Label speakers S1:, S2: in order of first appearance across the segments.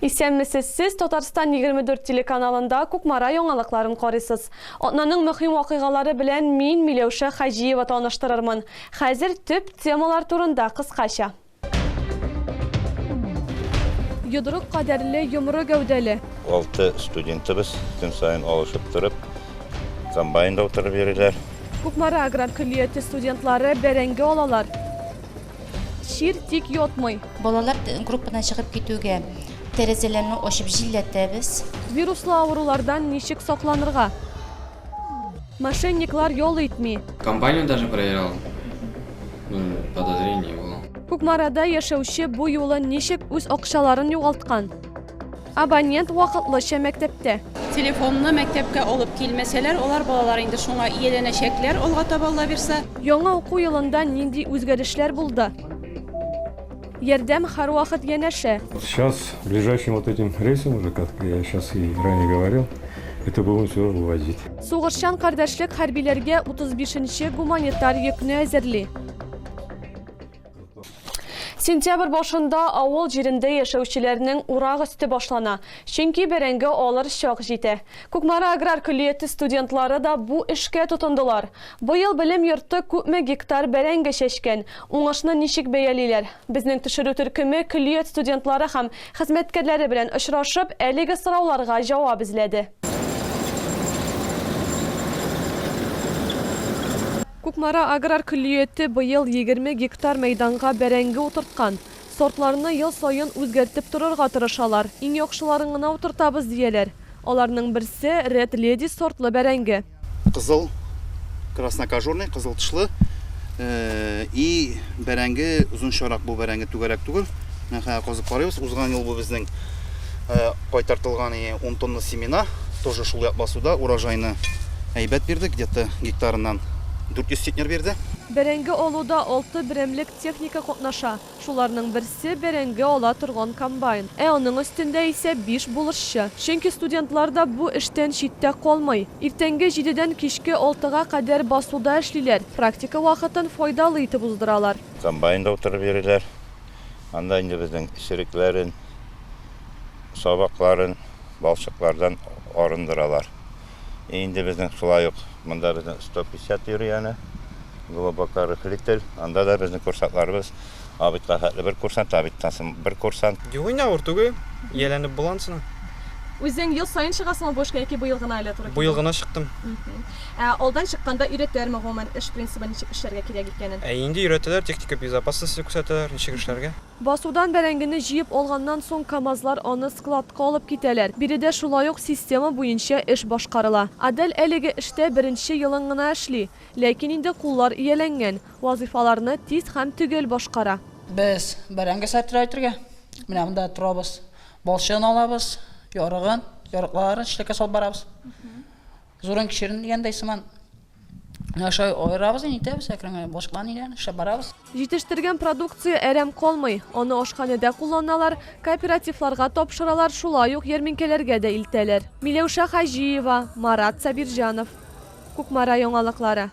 S1: Исәнмесез, сез Татарстан 24 телеканалында Кукмара яңалыкларын карыйсыз. Атнаның мөһим вакыйгалары белән мин, Миләүшә Хаҗиева таныштырырмын. Хәзер төп темалар турында кыскача. Йодрык кадәрле, йомры гәүдәле. Алты
S2: студентыбыз көн саен алышып торып, комбайнда утырып йөриләр. Кукмара аграр
S1: көллияте студентлары бәрәңге алалар. Чир тик йотмый. Балалар группадан
S3: чыгып китүгә тәрәзәләрне ачып җилләтәбез. Вируслы
S1: авырулардан ничек сакланырга? Мошенниклар ял итми. Компанию даже
S4: проверял. Ну, подозрение было. Кукмарада
S1: яшәүче бу юлы ничек үз акчаларын югалткан? Абонент вакытлыча мәктәптә. Телефонны
S5: мәктәпкә алып килмәсәләр, алар балалар инде шуңа ияләнәчәкләр алга таба Аллабирса. Яңа уку елында
S1: нинди үзгәрешләр булды? Ярдәм һәрвакыт янәшә. Сейчас
S6: ближайшим вот этим рейсом уже как я сейчас и ранее говорил это будем все вывозить. Сугышчан
S1: кардәшлек хәрбиләргә утыз бишенче гуманитар йөкне әзерли. Сентябрь башында авыл җирендә яшәүчеләрнең урак өсте башлана, чөнки бәрәңге алыр чак җитә. Кукмара аграр көллияте студентлары да бу эшкә тотындылар. Быел белем йорты күпме гектар бәрәңге чәчкән, уңышны ничек бәялиләр? Безнең төшерү төркеме көллият студентлары һәм хезмәткәрләре белән очрашып, әлеге сорауларга җавап эзләде. Кукмара аграр көллияте быел егерме гектар мәйданга бәрәңге утырткан. Сортларны ел саен үзгәртеп торырга тырышалар. Иң яхшыларын гына утыртабыз, дияләр. Аларның берсе, Ред Леди сортлы бәрәңге. Кызыл,
S7: краснокожурный, кызыл тышлы, и бәрәңге озынчарак. Бу бәрәңге түгәрәк түгел. Менә хәзер казып карыйбыз. Узган ел бу безнең э, кайтартылган и он тонна семена тоже шул як басуда урожайны әйбәт бирде где то гектарыннан дүрт йөз центнер бирде Бәрәңге алуда
S1: алты берәмлек техника катнаша. Шуларның берсе бәрәңге ала торган комбайн, ә аның өстендә исә биш булышчы. Чөнки студентлар да бу эштән читтә калмый. Иртәнге җидедән кичке алтыга кадәр басуда эшлиләр, практика вакытын файдалы итеп уздыралар. Комбайнда утырып
S2: йөриләр. Анда инде безнең черекләрен, сабакларын балчыклардан арындыралар. И инде безнең шулай ук монда безнең 150 йөри яны, глубоко рыхлитель. Анда да безнең курсантларыбыз абитка хәтле бер курсант, абиттан соң бер курсант. Юк инде авыр түгел,
S8: ияләнеп була анысына. Үзең
S1: ел саен чыгасыңмы бу эшкә яки быел гына әле туры килде? Быел гына чыктым.
S8: Ә алдан
S1: чыкканда өйрәтәләрме гомумән эш принцибы ничек эшләргә кирәк икәнен? Ә инде өйрәтәләр, техника
S8: безопасности күрсәтәләр, ничек эшләргә. Басудан бәрәңгене
S1: җыеп алганнан соң камазлар аны складка алып китәләр. Биредә шулай ук система буенча эш башкарыла. Адель әлеге эштә беренче елын гына эшли. Ләкин инде куллар ияләнгән, вазыйфаларны тиз һәм төгәл башкара. Без
S9: бәрәңге сәттерә әйтергә менә монда торабыз. Балчыгын алабыз, ярыгын, ярыкларын чиләккә салып барабыз. Зуран кишерен дигәндәй сыман ашай аерабыз, нитәбез, әкренләп башка ниләрне эшләп барабыз. Җитештергән продукция
S1: әрәм калмый. Аны ашханәдә кулланалар, кооперативларга тапшыралар, шулай ук ярминкәләргә дә илтәләр. Миләүшә Хаҗиева, Марат Сабирҗанов. Кукмара яңалыклары.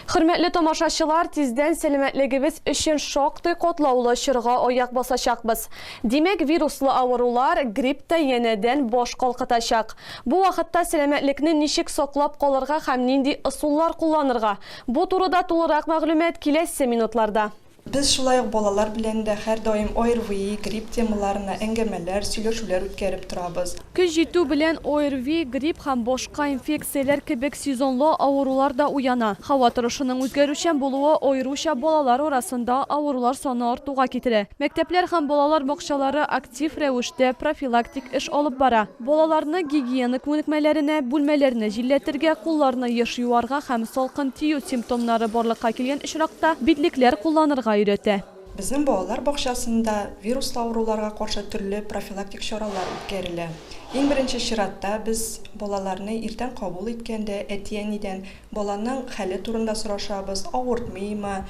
S1: Хөрмәтле тамашачылар, тиздән сәламәтлегебез өчен шактый катлаулы чорга аяк басачакбыз. Димәк, вируслы авырулар, грипп та янәдән баш калкытачак. Бу вакытта сәламәтлекне ничек саклап калырга һәм нинди ысуллар кулланырга, бу турыда тулырак мәгълүмат киләсе минутларда. Без шулай ук
S10: балалар белән дә һәрдаим ОРВИ, грипп темаларына әңгәмәләр, сөйләшүләр үткәреп торабыз. Көз җитү белән
S1: ОРВИ, грипп һәм башка инфекцияләр кебек сезонлы авырулар да уяна. Һава торышының үзгәрүчән булуы аеруча балалар арасында авырулар саны артуга китерә. Мәктәпләр һәм балалар бакчалары актив рәвештә профилактик эш алып бара. Балаларны гигиена күнекмәләренә, бүлмәләрне җилләтергә, кулларны еш юарга һәм салкын тию симптомнары барлыкка килгән очракта битлекләр кулланырга өйрәтә. Безнең балалар
S10: бакчасында вируслы авыруларга каршы төрле профилактик чаралар үткәрелә. Иң беренче чиратта без балаларны иртән кабул иткәндә әти-әнидән баланың хәле турында сорашабыз, авыртмыймы,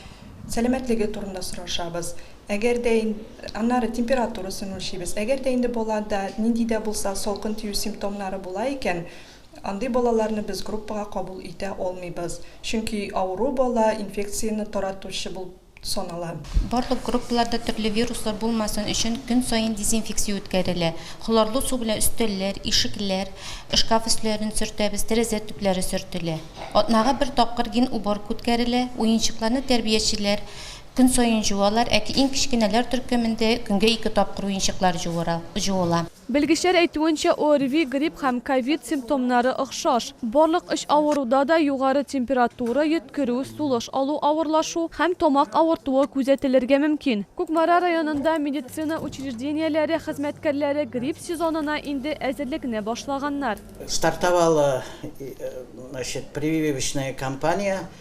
S10: сәламәтлеге турында сорашабыз. Әгәр дә ин аннары температурасын үлчибез. Әгәр дә инде балада нинди дә булса салкын тию симптомнары була икән, андый балаларны без группага кабул итә алмыйбыз, чөнки авыру бала инфекцияне таратучы булып санала. Барлык
S3: группаларда төрле вируслар булмасын өчен көн саен дезинфекция үткәрелә. Хлорлы су белән өстәлләр, ишекләр, шкаф өсләрен сөртәбез, тәрәзә төпләре сөртелә. Атнага бер тапкыр ген уборка үткәрелә, уенчыкларны тәрбиячеләр Көн саен җуалар, әти иң кечкенәләр төркемендә көнгә ике тапкыр уенчыклар җуыра, җуыла. Белгечләр
S1: әйтүенчә, ОРВИ, грипп һәм ковид симптомнары охшаш. Барлык өч авыруда да югары температура, йөткерү, сулыш алу авырлашу һәм тамак авыртуы күзәтелергә мөмкин. Кукмара районында медицина учреждениеләре хезмәткәрләре грипп сезонына инде әзерлекне башлаганнар. Стартовала,
S4: значит, прививочная кампания,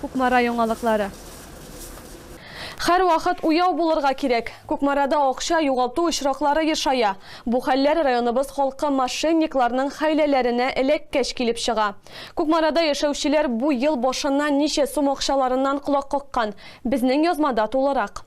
S1: Кукмара яңалыклары. Һәрвакыт уяу булырга кирәк. Кукмарада акча югалту очраклары ешая. Бу хәлләр районыбыз халкы мошенникларның хәйләләренә эләккәч килеп чыга. Кукмарада яшәүчеләр бу ел башыннан ничә сум акчаларыннан колак каккан? Безнең язмада тулырак.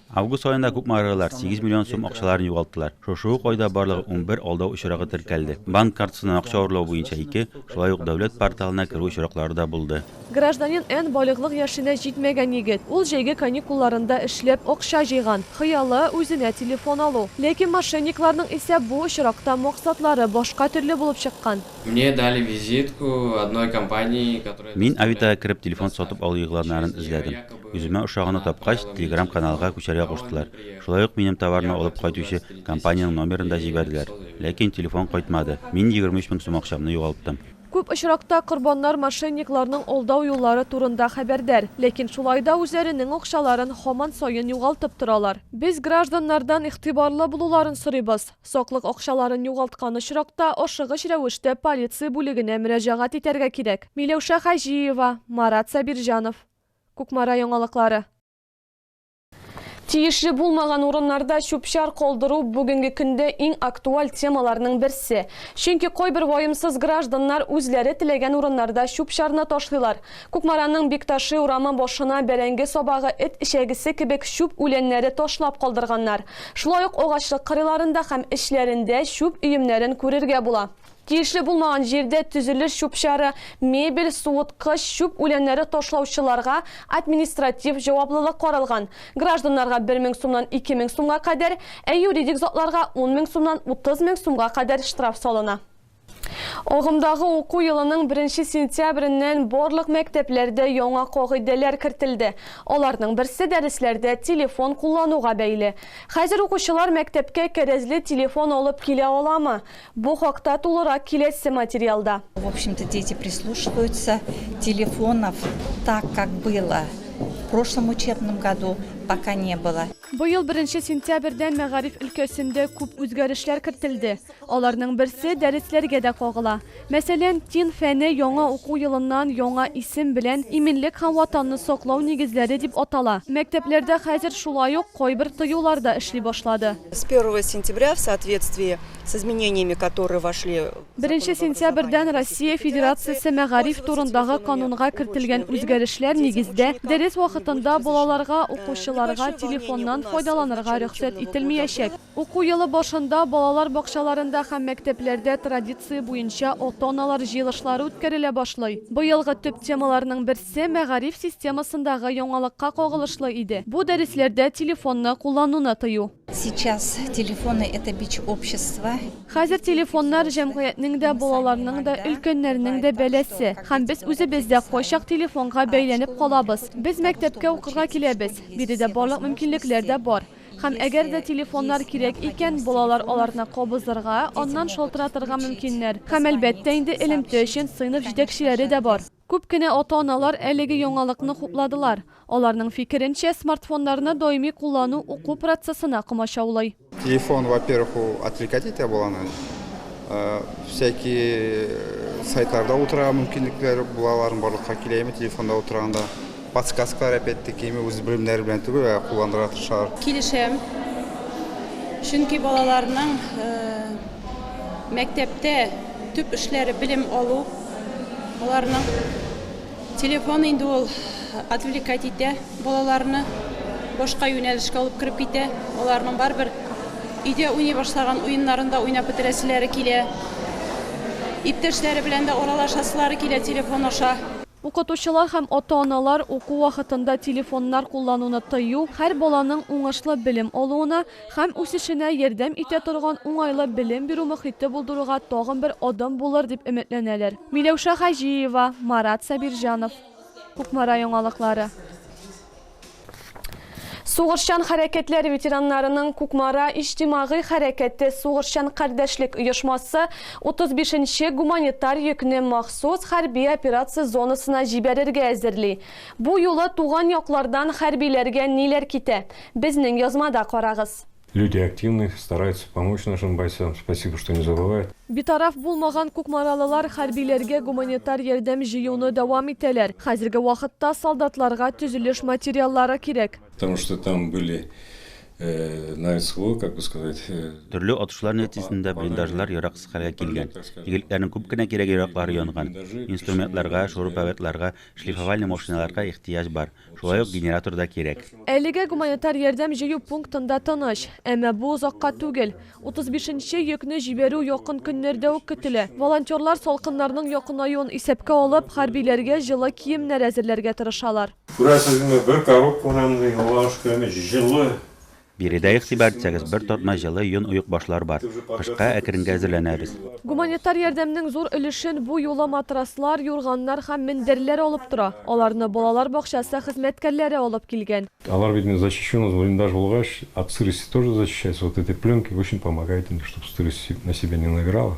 S4: Август аенда
S11: күпме аралар 8 миллион сум акчаларын югалттылар. Шушы ук айда барлыгы унбер алдау очрагы теркәлде. Банк картасыннан акча урлау буенча ике, шулай ук дәүләт порталына керү очраклары да булды. Гражданин Н.
S1: балигълык яшенә җитмәгән егет. Ул җәйге каникулларында эшләп, акча җыйган. Хыялы, үзенә телефон алу. Ләкин мошенникларның исә бу очракта максатлары башка төрле булып чыккан. Мне дали
S12: визитку одной компании, которая Мин Авитага кереп
S11: телефон сатып алу игъланнарын эзләдем. Үземә ошаганы тапкач, Телеграм каналга күчәргә куштылар. Шулай ук минем товарны алып кайтучы компаниянең номерын да җибәрделәр. Ләкин телефон кайтмады. Мин 23 мең сум акчамны югалттым. Күп очракта
S1: корбаннар мошенникларның алдау юллары турында хәбәрдар, ләкин шулай да үзләренең акчаларын һаман саен югалтып торалар. Без гражданнардан игътибарлы булуларын сорыйбыз, саклык акчаларын югалткан очракта ашыгыч рәвештә полиция бүлегенә мөрәҗәгать итәргә кирәк. Миләүшә Хаҗиева, Марат Сабирҗанов. Кукмара яңалыклары. Тиешле булмаган урыннарда чүп-чар калдыру бүгенге көндә иң актуаль темаларның берсе. Чөнки кайбер ваемсыз гражданнар үзләре теләгән урыннарда чүп-чарны ташлыйлар. Кукмараның Бикташи урамы башына бәрәңге сабагы, эт эчәгесе кебек чүп үләннәре ташлап калдырганнар. Шулай ук агачлык кырыйларында һәм эчләрендә чүп өемнәрен күрергә була. Тиешле булмаган җирдә төзелеш чүп-чары, мебель, суыткыч, чүп үләннәре ташлаучыларга административ җаваплылык каралган, гражданнарга бер мең сумнан ике мең сумга кадәр, ә юридик затларга ун мең сумнан утыз мең сумга кадәр штраф салына. Агымдагы уку елының беренче сентябреннән барлык мәктәпләрдә яңа кагыйдәләр кертелде. Аларның берсе дәресләрдә телефон куллануга бәйле. Хәзер укучылар мәктәпкә кәрәзле телефон алып килә аламы? Бу хакта тулырак киләсе материалда. В общем-то дети
S13: прислушиваются, телефонов так как было в прошлом учебном году пока не было. Быел беренче
S1: сентябрьдән мәгариф өлкәсендә күп үзгәрешләр кертелде. Аларның берсе дәресләргә дә кагыла. Мәсәлән, тин фәне яңа уку елыннан яңа исем белән Иминлек һәм Ватанны саклау нигезләре дип атала. Мәктәпләрдә хәзер шулай ук кайбер тыюлар да эшли башлады. С первого сентября
S14: в соответствии Беренче сентябрьдән
S1: Россия Федерациясе мәгариф турындагы канунга кертелгән үзгәрешләр нигездә, дәрес вакытында балаларга, укучыларга телефоннан файдаланырга рөхсәт ителмиячәк. Уку елы башында балалар бакчаларында һәм мәктәпләрдә традиция буенча ата-аналар җыелышлары үткәрелә башлый. Быелгы төп темаларның берсе мәгариф системасындагы яңалыкка кагылышлы иде, бу дәресләрдә телефонны куллануны тыю. Сейчас
S13: телефоны это бич общества. Хәзер телефоннар
S1: җәмгыятьнең дә, балаларның да, өлкәннәрнең дә бәласе. Һәм без үзебез дә кайчак телефонга бәйләнеп калабыз. Без мәктәпкә укырга киләбез, биредә барлык мөмкинлекләр дә бар. Һәм әгәр дә телефоннар кирәк икән, балалар аларны кабызырга, аннан шалтыратырга мөмкиннәр. Һәм, әлбәттә инде, элемтә өчен сыйныф җитәкчеләре дә бар. Күп кенә ата-аналар әлеге яңалыкны хупладылар. Аларның фикеренчә, смартфоннарны даими куллану уку процессына комачаулый. Телефон, во-первых,
S15: ул отвлекать итә баланы. Всякие сайтларда утырырга мөмкинлекләр була аларның, барлыкка килә ими телефонда утырганда. Подсказкалар опять-таки ими үз белемнәре белән түгел, ә кулланырга тырышалар. Килешәм.
S5: Чөнки балаларның мәктәптә Төп эшләре белем алу аларның. Телефон инде ул отвлекать итә балаларны, башка юнәлешкә алып кереп китә. Аларның барыбер өйдә уйный башлаган уеннарын да уйнап бетерәселәре килә. Иптәшләре белән дә аралашасылары килә телефон аша. Укытучылар һәм
S1: ата-аналар уку вакытында телефоннар куллануны тыю, һәр баланың уңышлы белем алуына һәм үсешенә ярдәм итә торган уңайлы белем бирү мохите булдыруга тагын бер адым булыр дип өметләнәләр. Миләүшә Хаҗиева, Марат Сабирҗанов. Кукмара яңалыклары. Сугышчан хәрәкәтләр ветераннарының Кукмара иҗтимагый хәрәкәте сугышчан кардәшлек оешмасы 35 нче гуманитар йөкне махсус хәрби операция зонасына җибәрергә әзерли. Бу юлы туган яклардан хәрбиләргә ниләр китә? Безнең язмада карагыз. Люди активные,
S6: стараются помочь нашим бойцам, спасибо, что не забывают. Битараф булмаган
S1: кукмаралылар хәрбиләргә гуманитар ярдәм җыюны дәвам итәләр. Хәзерге вакытта солдатларга төзелеш материаллары кирәк. Потому что там
S6: были на СВО, как бы сказать. Төрле атышлар
S11: нәтиҗәсендә блиндажлар яраксыз хәлгә килгән. Игелекләрнең күп кенә кирәге-яраклары янган. Инструментларга, шуруповертларга, шлифовальный машиналарга ихтыяҗ бар. Шулай ук генератор да кирәк. Әлегә гуманитар
S1: ярдәм җыю пунктында тыныч. Әмма бу озакка түгел. 35 нче йөкне җибәрү якын көннәрдә үк көтелә. Волонтерлар салкыннарның якынаюын исәпкә алып, хәрбиләргә җылы киемнәр әзерләргә тырышалар. Күрәсезме, бер
S6: коробкадан юлланышкан җылы Биредә
S11: игътибар итсәгез, бер тартма җылы йон оекбашлар бар. Кышка әкренгә әзерләнәбез. Гуманитар
S1: ярдәмнең зур өлешен бу юлы матраслар, юрганнар һәм мендәрләр алып тора. Аларны балалар бакчасы хезмәткәрләре алып килгән. Алар бит инде защищенный
S6: блиндаж булгач, от сырости тоже защищается. Вот эти пленки очень помогают им, чтобы сырость на себя не набирала.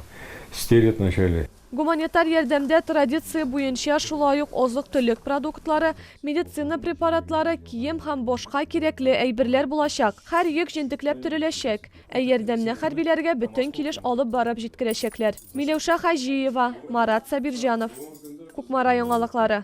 S6: Стелят вначале. Гуманитар ярдәмдә
S1: традиция буенча шулай ук азык-төлек продуктлары, медицина препаратлары, кием һәм башка кирәкле әйберләр булачак. Һәр йөк җентекләп төреләчәк. Ә ярдәмне хәрбиләргә бөтен килеш алып барып җиткерәчәкләр. Миләүшә Хаҗиева, Марат Сабирҗанов. Кукмара яңалыклары.